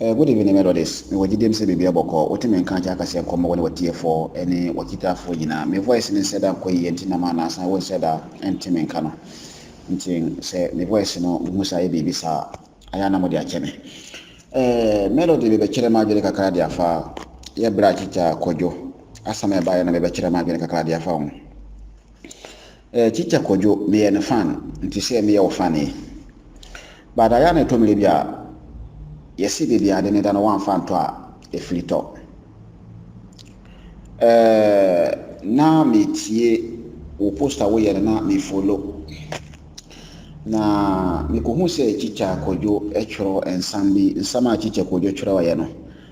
Eh, good evening Melodies. Mewɔ gyidiem sɛ biribi abɔkɔ. Wotumi nka akyɛ akaseɛ nkɔmmɔ wɔ ne wɔtiefoɔ ne wɔkitaafoɔ nyinaa. Me voice no nsɛ da nkɔ yie nti nam anaasa wonsɛ da ntumi nka no. Nti sɛ me voice no wohu sɛ ayɛ biribi saa a, Ayɛ a na mode akyɛ me. Ɛɛ, Melody mebɛkyerɛ m'adwene kakra de afa yɛ berɛ a Chicha Kwadwo asɛm a ɛbaeɛ no mebɛkyerɛ m'adwene kakra de afa ho. Ɛɛ, Chicha Kwadwo meyɛ ne fan nti sɛ meyɛ wo fan yi. But ayɛ a na ɛtɔ mmerɛ bi a yɛsi baabi ade ne da no woamfa ntɔ a ɛfiri tɔ. Ɛɛ, na metie wo post a woyɛ no na mefolo. Na mekohuu sɛ Kyikyɛ Kwadwo twerɛ nsɛm bi, nsɛm a Kyikyɛ Kwadwo twerɛeɛ no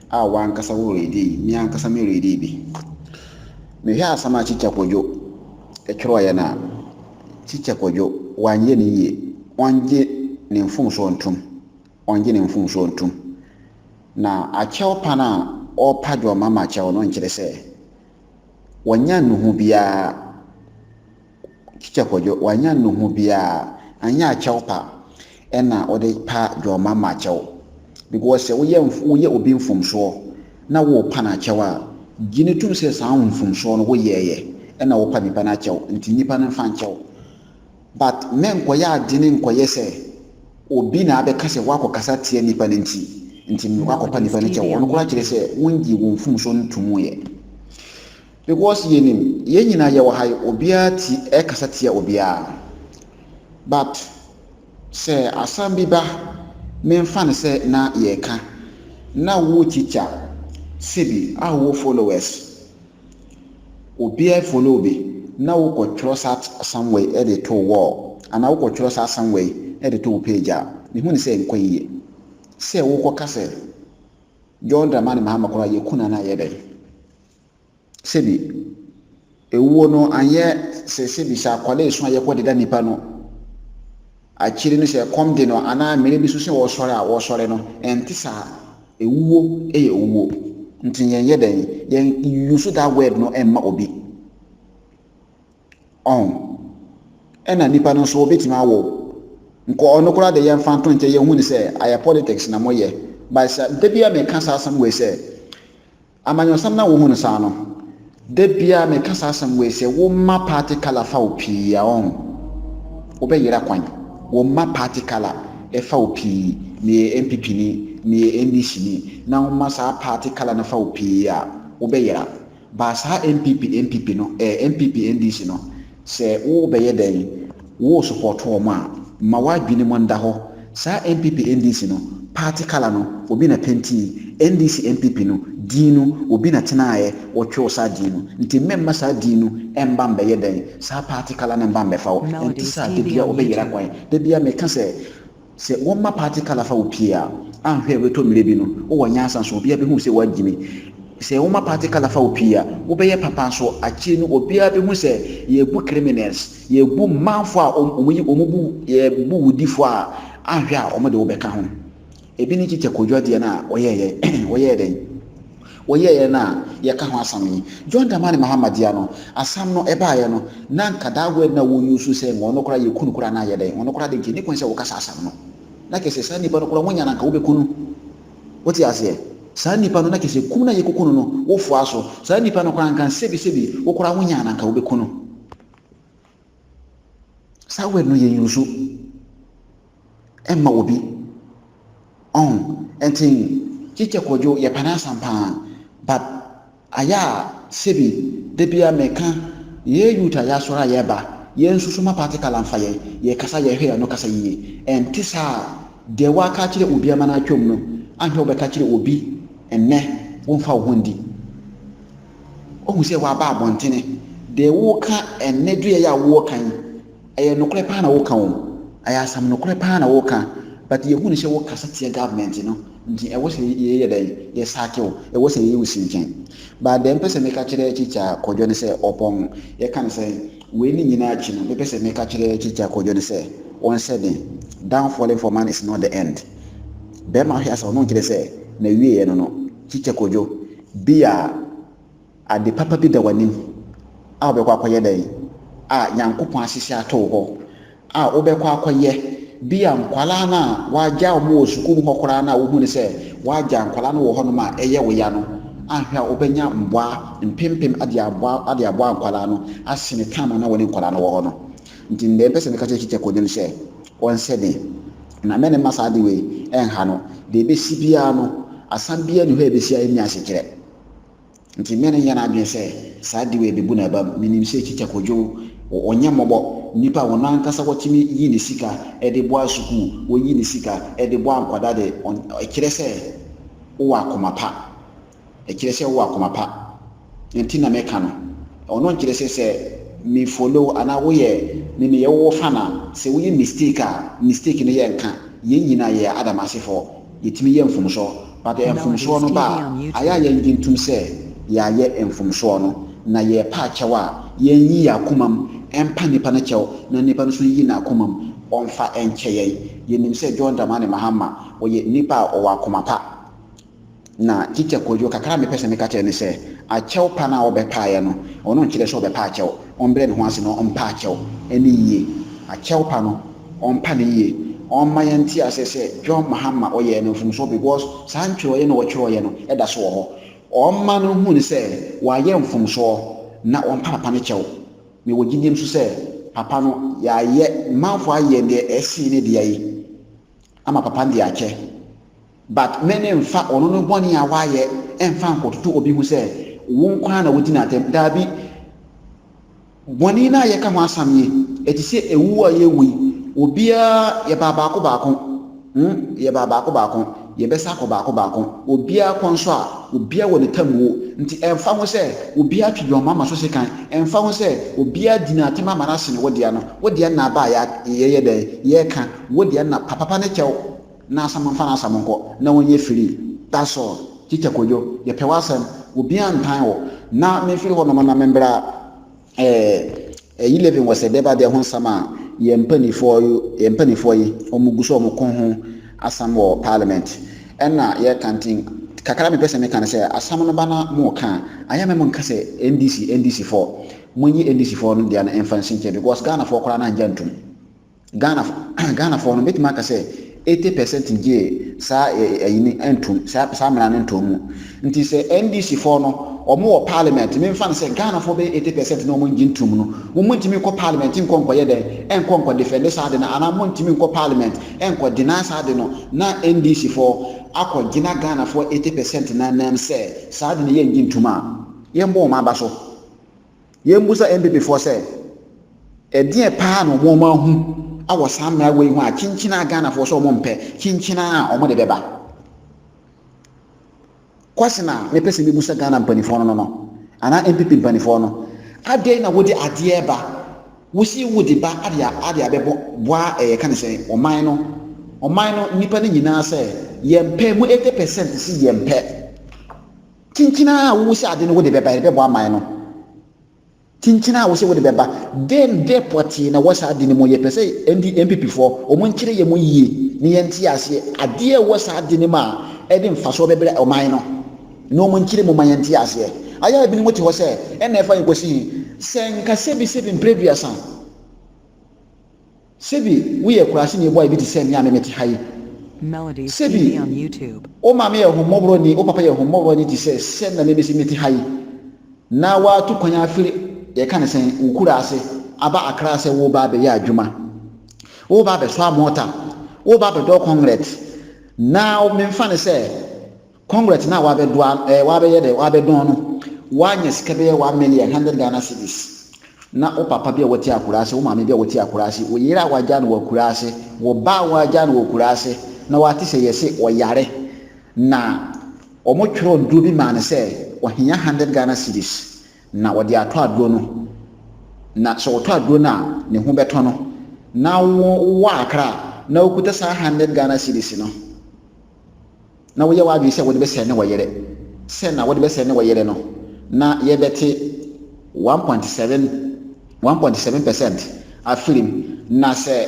a wo ankasa wo reedi, me ankasa me reedi bi. Mehwɛ asɛm a Kyikyɛ Kwadwo twerɛeɛ no a, Kyikyɛ Kwadwo wanyɛ ne yie, ɔngye ne mfomsoɔ ntom, ɔngye ne mfomsoɔ ntom. Na akyɛw pa no a ɔrepa John Mama kyɛw no nkyerɛ sɛ wanya nnuhu biara. Teacher Kwadwo, wanya nnuhu biaa, anyɛ akyɛw pa na wode pa Dwɔma ma akyɛw. Because sɛ woyɛ obi mfomsoɔ na worepa no akyɛw a, gye no tom sɛ saa mfomsoɔ no woyɛɛyɛ na wopa nipa no akyɛw nti nipa no mfa nkyɛw. But mɛnkɔyɛ adwene nkɔyɛ sɛ obi na abɛka sɛ woakɔkasa atia nipa no nti nti mekɔ akɔpa nipa no kyɛw. Ɔno koraa kyerɛ sɛ wongyee wo mfomsoɔ no tomuuɛ. Because yɛnim yɛn nyinaa yɛwɔ ha yi obiara ti ɛkasa tia obiara but sɛ asɛm bi ba menfa no sɛ na yɛka na wo teacher sebi a wowɔ followers obiara follow bi na wokɔ twerɛ saa asɛm wei de to wall anaa wokɔ twerɛ saa asɛm wei de to wo page a mehu ne sɛ nkɔ yiye sɛ wokɔ ka sɛ John Dramani Mahama koraa yɛku no anaa yɛdɛn. Sebi, ewuo no annyɛ sɛ sebi sɛ akwadaa esu a yɛkɔ deda nnipa no, akyiri no sɛ ɛkɔm de no anaa mmerɛ bi so sɛ wɔsɔre a wɔsɔre no, ɛnte saa. Ewuo yɛ ewuo. Nti yɛnyɛ dɛn? Yɛn use that word no mma obi. Ɔho. Ɛna nnipa no nso wɔbɛtumi awɔ o. Nka ɔno koraa de yɛmfa nto nkyɛn yɛhu no sɛ ayɛ politics na moyɛ. But sɛ da bi a meka saa asɛm wei sɛ Amanyɔsɛm na wohu no saa no. Da biara meka saa asɛm wei sɛ wo mma party colour fa wo pii a ɔn wobɛyera kwan. Wo mma party colour ɛfa wo pii, meyɛ NPP ni, meyɛ NDC ni na wo mma saa party colour no fa wo pii a wobɛyera. Baa saa NPP NPP no ɛɛ NPP NDC no Sɛ wo bɛyɛ dɛn wo support wɔn a ma w'adwene mu nda hɔ, saa NPP NDC no party colour no obi na pentii, NDC NPP no din no obi na tenaeɛ wɔ twew saa din no nti mmɛmma saa din no mba mbɛyɛ dɛn saa party colour no mba mbɛfa wo, ɛnte saa da biara wo bɛ yera kwan, da biara me ka sɛ. Sɛ wɔma party colour fa wo pie a, anhwɛ a ɛbɛtɔ mmerɛ bi no, wowɔ nyansa nso, obiara bɛhu sɛ woagyimi. Sɛ woma party colour fa wo pie a, wobɛyɛ papa nso, akyire no obiara bɛhu sɛ yɛrebu criminals, yɛrebu manfoɔ a wɔyi wɔn bu, yɛrebu wudifoɔ a, anhwɛ a wɔde wo bɛka ho. Ɛbi ne Kyikyɛ Kojo adeɛ no a wɔyɛeɛ, wɔyɛɛ dɛn? Wɔyɛeɛ no a yɛka ho asam yi, John Dramani Mahama dea no, asam no ɛbaeɛ no, na nka that word no a wɔ use sɛ nka ɔno koraa yɛku no koraa na ayɛ dɛn, ɔno koraa deɛ nka ɛnni kwan sɛ woka saa asam no. Na kyerɛ sɛ saa nipa no koraa wonya no a nka wobɛku no. Wote aseɛ? Saa nipa no na kyerɛ sɛ kum no a yɛkɔku no no, wofoa so. Saa nipa no koraa nka sɛbi sɛbi wo koraa wonya no a nka wobɛku no. Saa word no yɛ use ɛma obi. Ɔho, ɛnti Teacher Kojo yɛ pɛ n'asɛm paa but ayɛ a sɛbi da biara meka yɛ youth a yɛasɔre a yɛba yɛn nsusu ma party colour nfa yɛn, yɛ kasa yɛ hwɛ yɛn ano kasa yie. Ɛnte saa a deɛ wa ka akyerɛ obi ama no atwam no anhwɛ wo bɛka akyerɛ obi ɛnnɛ wo nfa wo ho nndi. Woahu sɛ wɔaba abɔntene. Deɛ woreka ɛnnɛ dua yi a woreka yi, ɛyɛ nokorɛ paa na woreka o. Ɛyɛ asɛm nokorɛ paa na woreka. But yɛhu no sɛ wokasa tia government no, nti ɛwɔ sɛ yɛyɛ dɛn? Yɛsake wo. Ɛwɔ sɛ yɛyɛ wo sinkyan. But deɛ mepɛ sɛ meka kyerɛ Tikya Kwadwo ne sɛ, ɔpɔn, yɛka no sɛn? Wei ne nyinaa akyi no, mepɛ sɛ meka kyerɛ Tikya Kwadwo ne sɛ, ɔnhyɛ den. Down falling for man is not the end. Bɛrima hwe ase, ɔno nkyerɛ sɛ, n'awieɛ no no. Tikya Kwadwo, Bi a ade papa bi da w'anim a wobɛkɔ akɔyɛ dɛn a Nyankopɔn ahyehyɛ ato wo hɔ a wobɛkɔ akɔyɛ. Bi a nkwadaa no a w'agyaa wɔn wɔ sukuu mu hɔ koraa no a wohunu sɛ w'agyaa nkwadaa no wɔ hɔ nom a ɛyɛ wo ya no anhwɛ a wobɛnya mmoa mpempem de aboa de aboa nkwadaa no asene time a na wɔne nkwadaa no wɔ hɔ no. Ntsi ndeɛ mepɛ sɛ meka kyerɛ Chicheko nye no sɛ ɔnhyɛ den na mɛne mma saa adze wei nnha no. Dza ebesi biara no, asã biara nnyi hɔ a ebesi a ennya asekyerɛ. Ntsi mɛne nyɛ n'adwen sɛ saa adze wei ebebu n'aba mu. Minyim sɛ Chicheko dze o, ɔnnyɛ mbɔbɔ. Nyimpa a hɔn ankasa wɔtumi yi ne sika dze boa sukuu, woyi ne sika dze boa nkwadaa dze, ɔnn, ɔkyerɛ sɛ ɔwɔ akoma pa. Ɛkyerɛ sɛ wowɔ akoma pa. Nea nti na meka no, ɔno nkyerɛ sɛ sɛ me follow wo anaa woyɛ me meyɛ wo fan a, sɛ woyɛ mistake a, mistake no yɛ nka. Yɛn nyinaa yɛyɛ Adam asefoɔ. Yɛtumi yɛ mfomsoɔ. But sɛ mfomsoɔ no ba a, ayɛ a yɛngye ntom sɛ yɛayɛ mfomsoɔ no, na yɛrepɛ akyɛw a, yɛnyi yɛn akomam mpa nnipa no kyɛw na nnipa no nso nyi n'akomam ɔmfa nkyɛ yɛn. Yɛnim sɛ John Dramani Mahama, ɔyɛ nnipa a ɔwɔ akoma pa. Na Teacher Kojo, kakra a mepɛ sɛ meka kyerɛ ne sɛ, akyɛw pa no a ɔbɛpaeɛ no, ɔno nkyerɛ sɛ ɔbɛpa akyɛw. Ɔmbrɛ ne ho ase na ɔmpa akyɛw ne yie. Akyɛw pa no, ɔmpa no yie. Ɔmma yɛnte aseɛ sɛ John Mahama ɔyɛɛ no mfomsoɔ because saa ntwerɛeɛ no a ɔtwerɛeɛ no da so wɔ hɔ. Ɔmma no nhu no sɛ wayɛ mfomsoɔ na ɔmpa papa no kyɛw. Mewɔ gyidie nso sɛ papa no yɛayɛ, manfoɔ ayɛ deɛ ɛsen ne dea yi ama papa no de akyɛ. But me ne nfa ɔno no bɔne a wayɛ nfa nkɔtoto obi ho sɛ wo nko ara na wodi no atɛm. Daabi. Bɔne no a yɛka ho asam yi, ɛte sɛ ɛwu a yɛwu yi, obiara yɛbaa baako baako. Hmm, yɛbaa baako baako, yɛbɛsa akɔ baako baako. Obiara kɔ nso a, obiara wɔ ne tam wuo. Nti ɛnfa ho sɛ obiara twe dwom ama so sekan, ɛnfa ho sɛ obiara di no atɛm ama no asene wo dea no, wo dea nna aba a yɛyɛ dɛn, yɛka, wo dea nna papapa ne kyɛw. Na asɛm mfa n'asɛm nkɔ na wonyɛ free that's all Teacher Kojo yɛpɛ w'asɛm obiaa ntan wo na memfiri hɔ nom na membra ɛɛ Eleven wɔ sɛ bɛba deɛ ho nsɛm a yɛn mpanifoɔ yo yɛn mpanifoɔ yi ɔmo gu so ɔmo ko ho asɛm wɔ parliament ɛna yɛka nti kakra mepɛ sɛ meka ne sɛ asɛm no ba na mo ka a ayɛ mɛ mo nka sɛ NDC NDC foɔ mo nyi NDC foɔ no deɛ no mfa nsi nkyɛn because Ghana foɔ koraa no angya ntum. Ghana Ghanafoɔ no mɛtumi aka sɛ eighty percent gyee saa ɛyi no ntom saa saa mmara no ntom mu nti sɛ NDC foɔ no wɔn wɔ parliament memfa no sɛ Ghanafoɔ bɛyɛ eighty percent na wɔn ngye ntom no wɔn mo ntumi nkɔ parliament nkɔ nkɔyɛ dɛn ɛnkɔ nkɔ defend saa de no anaa wɔn ntumi nkɔ parliament ɛnkɔ deny saa de no na NDC foɔ akɔ gyina Ghanafoɔ eighty percent na nam sɛ saa de no yɛ ngye ntom a yɛn bɔ wɔn aba so. Yɛmmisa MPPfoɔ sɛ, ɛdeɛn paa na wɔn ahu wɔ saa mmara wei ho a kyenkyen a Ghanafoɔ sɛ wɔn mpɛ, kyenkyen a wɔn de bɛba? Question a mepɛ sɛ mebusa Ghana mpanifoɔ no no no, anaa MPP mpanifoɔ no, adɛn na wode adeɛ reba, wosii wode ba ade ade abɛbɔ boa ɛɛ yɛka ne sɛn, ɔman no, ɔman no nnipa no nyinaa sɛ yɛmpɛ, mo 80 percent se yɛmpɛ. Kyinkyin a wo sɛ ade no wode bɛba, yɛde bɛbɔ aman no. Kyinkyin a wo sɛ wode bɛba, dɛn dɛ pɔtee na ɛwɔ saa ade no mu? Yɛpɛ sɛ ND, NPP foɔ, wɔn nkyerɛ yɛn mu yie na yɛnte aseɛ adeɛ a ɛwɔ saa ade no mu a ɛde mfasoɔ bɛbrɛ ɔman no na wɔn nkyerɛ mu ma yɛnte aseɛ. Ayɛ a ebinom te hɔ sɛ, ɛnna ɛfa yɛn kɔsi he? Sɛ nka sɛbisɛbi mprɛduasa. Sebi woyɛ kuraseni boy bi te sɛ me a me mete ha yi. Sebi wo maame yɛ ahummɔborɔni, wo papa yɛ ahummɔborɔni te sɛ sɛ na me mesi mete ha yi, na woatu kwan afiri, yɛka no sɛn, wo kura ase aba Accra sɛ woreba abɛyɛ adwuma. Woreba abɛsoa mɔɔta, woreba abɛdɔw kɔngrɛt, na memfa no sɛ Congress no a wɔabɛdoa ɛɛ wɔabɛyɛ dɛ wɔabɛdɔn no, wɔanya sika bɛyɛ one million hundred Ghana cedis. Na wo papa bi a wɔte Akura ase, wo maame bi a wɔte Akura ase, wo yere a wɔagyaa no wɔ Akura ase, wo ba a wɔagyaa no wɔ Akura ase, na wɔate sɛ yɛse ɔyare, na wɔtwerɛɛ aduro bi maa no sɛ ɔhia hundred Ghana cedis, na wɔde atɔ aduro no, na sɛ wɔtɔ aduro no a, ne ho bɛtɔ no, na wo wowɔ Akra, na wokuta saa hundred Ghana cedis no. na woyɛ w'adwene sɛ wode bɛsɛe ne wɔ yere sɛ na wode bɛsɛe ne wɔ yere no na yɛbɛte one point seven one point seven percent afirim na sɛ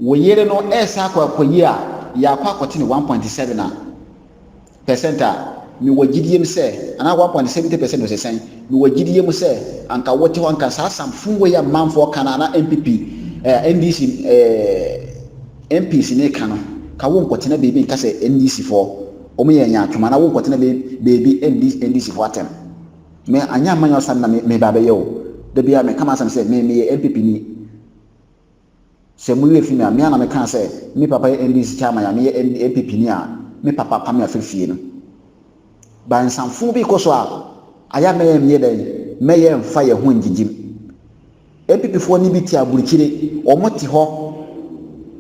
wo yere no ɛresa akɔ akɔyi a yɛakɔ akɔte ne one point seven a percent a mewɔ gyidie mu sɛ anaa one point seventy percent ɔsesɛn mewɔ gyidie mu sɛ anka wote hɔ anka saa samfo wei a manfoɔ ka no anaa npp eh, ndc eh, MPs ne ka no ka wo nkɔtena baabi nka sɛ NDC foɔ wɔn yɛ nyaatwom anaa wo nkɔtena baabi ndi NDC foɔ atɛm. Me anyɛ amanyɛ ɔsan na me ba bɛyɛ o. Da biara me ka m'asɛm sɛ me meyɛ MPP ni. Sɛ mo werɛ fi me a me a na me kaa sɛ me papa yɛ NDC chairman a me yɛ MPP ni a me papa pam me afiri fie no. Ba nsamfoo bi kɔ so a ayɛ a mɛyɛ meyɛ dɛn mɛyɛ nfa yɛ ho ngyegyem. NPP foɔ no bi te aburukyire, wɔn te hɔ,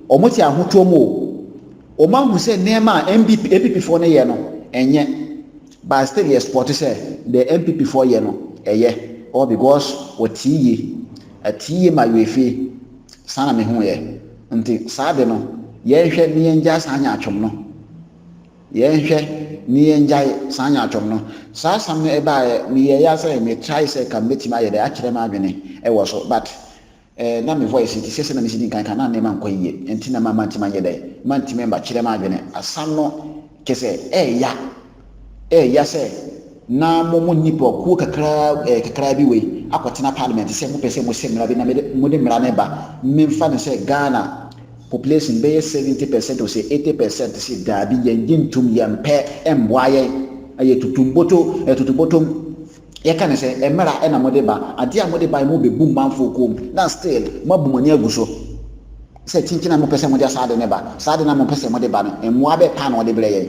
wɔn te ahotoɔ mu o, wɔn ahu sɛ nneɛma a NPP NPP foɔ no yɛ no ɛnyɛ, but still yɛ spɔte sɛ deɛ NPP foɔ yɛ no ɛyɛ, ɔwɔ because wɔte yie, ɛte yie ma UEFE, saa na mehu yɛ, nti saa de no yɛnhwɛ ne yɛngyaa saa nyaatwom no. Yɛnhwɛ, ne yɛngyae, saa nyaatwom no. Saa asɛm no baeɛ, meyɛɛ ya sɛ me try sɛ ka mɛtumi ayɛ dɛ akyerɛ m'adwene wɔ so but eh na me voice no te sɛ sɛdeɛ mesi di nkan ka na nneɛma nkɔ yie nti na mamma ntumi anyɛ dɛ mantumi mma kyerɛ m'adwene asɛm no kyɛ sɛ ɛyɛ ya ɛyɛ ya sɛ na mo mo nnipakuo kakraa eh, kakraa bi wei akɔtena parliament sɛ mopɛ sɛ mo hyɛ mmara bi na mo de mmara no ba memfa no sɛ Ghana population bɛyɛ 70 percent o sɛ 80 percent sɛ daabi yɛn gye ntom yɛn pɛ mmoa yɛn ɛyɛ tutumboto ɛtutubotom yɛka ne sɛ mmara ɛna mo de ba adeɛ a mo de ba mo bɛbu mmanfoɔ kɔm na still mo abu mo ani agu so sɛ kyinkyin a mo pɛ sɛ mo de saa de ne ba saa de na mo pɛ sɛ mo de ba no mmoa bɛɛ paa na ɔde brɛ yɛn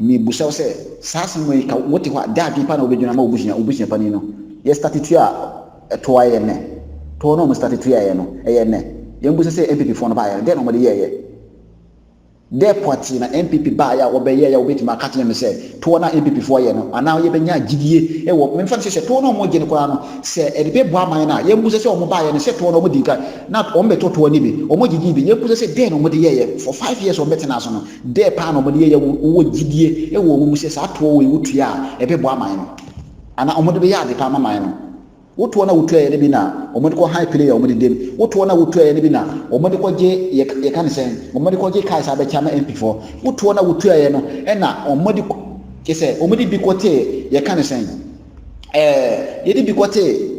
Mibisa wo sɛ, saa asɛm yi ka wote hɔ a, dɛn adwene pa na wobɛgyina ama w'abusua, w'abusua panin no? Yɛ starte tua a, toɔ ara yɛ nnɛ. Toɔ no a wɔstarte tuaeɛ no, ɛyɛ nnɛ. Yɛn mmusa sɛ NPP foɔ no baeɛ no, dɛn na wɔde yɛeɛ? Dɛn pɔtee na NPP baeɛ a wɔbɛyɛeɛ a wobɛtumi aka akyerɛ me sɛ, toɔ no a NPP foɔ yɛ no, anaa yɛbɛnya gyidie wɔ, memfa no sɛ, sɛ toɔ no a wɔgye no koraa no, sɛ ɛde bɛbɔ aman no a, yɛn mmusa sɛ wɔn baeɛ no, sɛ toɔ no a wɔdi kan, na wɔbɛtɔ toɔ no bi, wɔgye gyee bi, yɛn mmusa sɛ, dɛn na wɔde yɛeɛ? For five years wɔbɛtenaa so no, Dɛ paa na wɔde yɛyɛ wo wowɔ gyidie wɔ wo mu sɛ saa toɔ wei wotua a ɛbɛboa aman no anaa wɔde bɛyɛ ade pa ama man no. Wo toɔ no a wotuaeɛ no bi na wɔde kɔ han plane a wɔde dam. Wo toɔ no a wotuaeɛ no bi na wɔde kɔgye yɛ yɛka no sɛn wɔde kɔgye cars a abɛkyɛ ama MP foɔ. Wo toɔ no a wotuaeɛ no na wɔde kɔ kyɛ sɛ wɔde bi kɔtee yɛka no sɛn ɛɛ yɛde bi kɔtee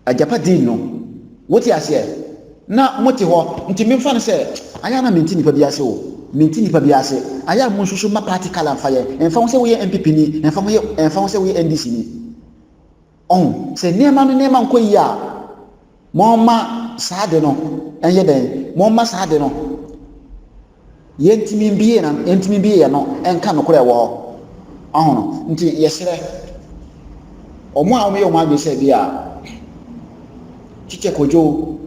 Agyapade no. Wote aseɛ? Na mote hɔ, nti memfa no sɛ, ayɛ a na mente nnipa bi ase o, mente nnipa bi ase, ayɛ a monsusu mma party colour mfa yɛn, ɛmfa ho sɛ woyɛ NPP ni, ɛmfa ho yɛ, ɛmfa ho sɛ woyɛ NDC ni. Ɔho, sɛ nneɛma no nneɛma nkɔ yie a, momma saa ade no nyɛ dɛn, momma saa ade no, yɛntumi mbue na yɛntumi mbue yɛn ano nka nokorɛ ɛwɔ hɔ ɔho no nti yɛsrɛ wɔn a wɔyɛ wɔn adwene sɛ bi a kyekyɛ kodwo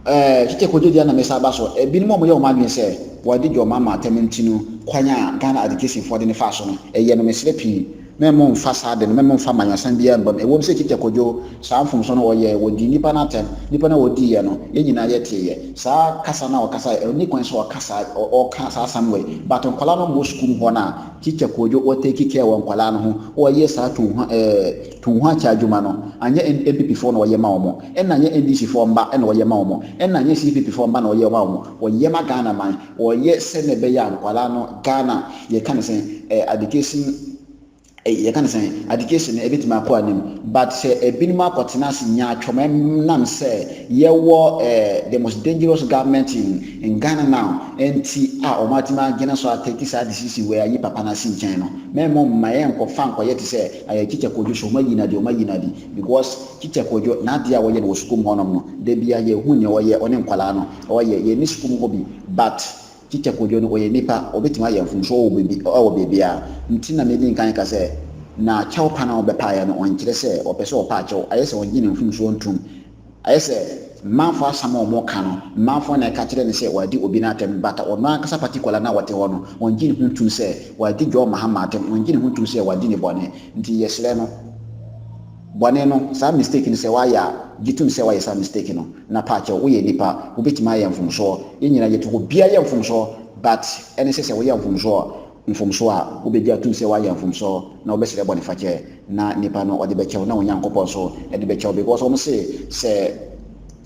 ɛɛ kyekyɛ kodwo deɛ na mesa aba so ebinom a wɔyɛ wɔn adwene sɛ wɔde dwom ama atɛm nti no kwan a Ghana adekesinfoɔ de ne fa so no ɛyɛ no mesrɛ pii Mɛmmo mfa saa ade no, mɛmmo mfa amanyɔsɛm biara mma mu. Ɛwom sɛ Tite kodwo saa mfomso no, ɔyɛe, wɔdii nnipa no atɛm, nnipa no a wɔdiiɛ no, yɛn nyinaa yɛteeɛ. Saa kasa no a ɔkasaeɛ, ɛnni kwan sɛ ɔka saa, ɔka saa asɛm wei. But nkwadaa no mmɔ sukuu mu hɔ no a, Tite kodwo, ɔtake care wɔ nkwadaa no ho, ɔyɛ saa tu ho, eh, tu ho akyɛ adwuma no, anyɛ NPP foɔ na ɔyɛ ma wɔn, ɛna anyɛ NDC foɔ mma na ɔyɛ ma wɔn, ɛna anyɛ CPP foɔ mma na ɔyɛ ma wɔn, ɔyɛ ma Ghana man. Wɔyɛ sɛnea ɛbɛyɛ a nkwadaa no Ghana yɛka no sɛn eh, education eh, yɛka no sɛn education no ɛbɛtumi akɔ anim but sɛ ebinom akɔtena ase nyaatwom ɛnam sɛ yɛwɔ eh, the most dangerous government in, in Ghana now nti a wɔn atumi agyina so atɛki saa decision wɔ ayi papa no ase nkyɛn no mɛmɔ mma yɛn nkɔfa nkɔyɛ te sɛ ayɛ teacher Kojo so wɔn ayi no adi wɔn ayi no adi because teacher Kojo n'adeɛ a wɔyɛ no wɔ sukuu mu hɔnom no da bia yɛhu nea wɔyɛ ɔne nkwadaa no ɔɔ yɛ yɛ ne sukuu mu hɔ bi but teacher Kojo no ɔyɛ nipa ɔbɛtumi ayɛ mfomsoɔ wɔ baabi wɔ baabiara nti na medi nkan ka sɛ na kyɛw pa no a ɔbɛpaeɛ no ɔnkyerɛ sɛ ɔpɛ sɛ ɔpa akyɛw ayɛ sɛ ɔngye ne mfomsoɔ ntom ayɛ sɛ mmanfoɔ asɛm a ɔmo ka no mmanfoɔ na ɛka kyerɛ no sɛ wadi obi no atɛm but ɔno ankasa particular no a ɔte hɔ no ɔngye ne ho ntom sɛ wadi John Mahama atɛm ɔngye ne ho ntom sɛ wadi ne bɔne nti yɛsrɛ no Bɔne no, saa mistake no sɛ w'ayɛ a, gye tom sɛ w'ayɛ saa mistake no, na paa kyɛw, woyɛ nipa, wobɛtumi ayɛ mfomsoɔ, yɛn nyinaa yɛte hɔ, obiara yɛ mfomsoɔ, but ɛne sɛ sɛ woyɛ mfomsoɔ a, mfomsoɔ a, wobɛgye atom sɛ w'ayɛ mfomsoɔ, na wobɛsrɛ bɔnefakyɛ, na nipa no ɔde bɛkyɛw, na wo Nyankopɔn nso de bɛkyɛw, because wɔn se sɛ.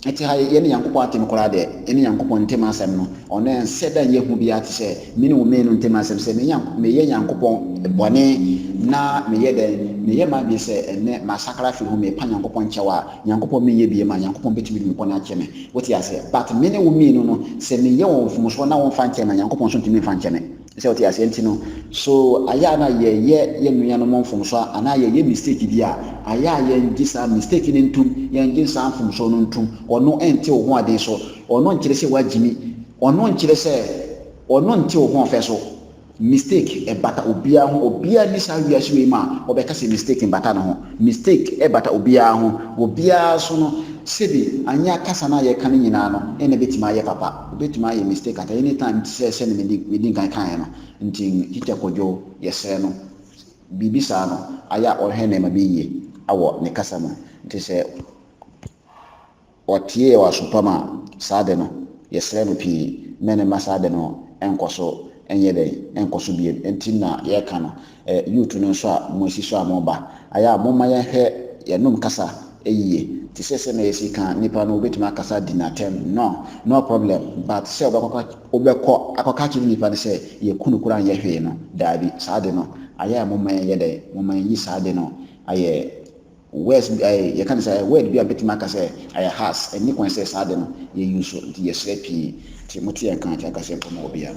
Etse ha yi, yɛne Nyankopɔn atem koraa deɛ, yɛne Nyankopɔn ntem asem no, ɔno ɛnsɛ da nyɛ hu biara tesɛ mene wo mmienu ntem asem, sɛ me Nyank meyɛ Nyankopɔn bɔne na meyɛ dɛn? meyɛ m'adwene sɛ ɛnnɛ masakra afiri ho, mepa Nyankopɔn kyɛw a, Nyankopɔn menyɛ biem a, Nyankopɔn betumi de me bɔne akyɛ me. Wote aseɛ? But mene wo mmienu no, sɛ meyɛ wɔn mfomsoɔ na womfa nkyɛ me a, Nyankopɔn nso ntumi mfa nkyɛ me. Sɛ wote aseɛ nti no, so ayɛ a na yɛyɛ yɛn nuanom mfomsoɔ anaa yɛyɛ mistake bi a, ayɛ a yɛngye saa mistake no ntom, yɛngye saa mfomsoɔ no ntom. Ɔno nte wo ho aden so. Ɔno nkyerɛ sɛ woagyimi. Ɔno nkyerɛ sɛ Ɔno nte wo ho ɔfɛ so. Mistake ɛbata obiara ho. Obiara nni saa wiase wei mu a ɔbɛka sɛ mistake mbata ne ho. Mistake ɛbata obiara ho. Obiara so no, sɛbi anyɛ akasa no a yɛka no nyinaa no, ɛna ɛbɛtumi ayɛ papa. Obetumi ayɛ mistake at any time te sɛ sɛnea medi nkan kaeɛ no. Nti Tikya Kwadwo, yɛsrɛ no, biribi saa no ayɛ a ɔnhwɛ nneɛma bi yie wɔ ne kasa mu. Nti sɛ ɔteeɛ wɔ aso pam a, saa ade no, yɛsrɛ no pii mma no mma saa ade no nkɔ so nyɛ dɛn, nkɔ so bio. Nti na yɛreka no. Eh youth no nso a mo asi so a mo ba ayɛ a momma yɛn hwɛ yɛn nom kasa yie te sɛ sɛnea yɛsi ka nipa no wobɛtumi akasa di no atɛm no no problem but sɛ wobɛkɔ wobɛkɔ akɔka kyerɛ nipa no sɛ yɛ kunu koraa nyɛ hwee no daabi saa de no ayɛ a momma yɛn yɛ dɛn momma yɛn yi saa de no ayɛ words bi ayɛ yɛka ne sɛ ayɛ word bi a bɛtumi aka sɛ ayɛ has ɛni kwan sɛ saa de no yɛ yi so nti yɛsrɛ pii nti mote yɛn ka nti akasɛ mpɔ ma obiara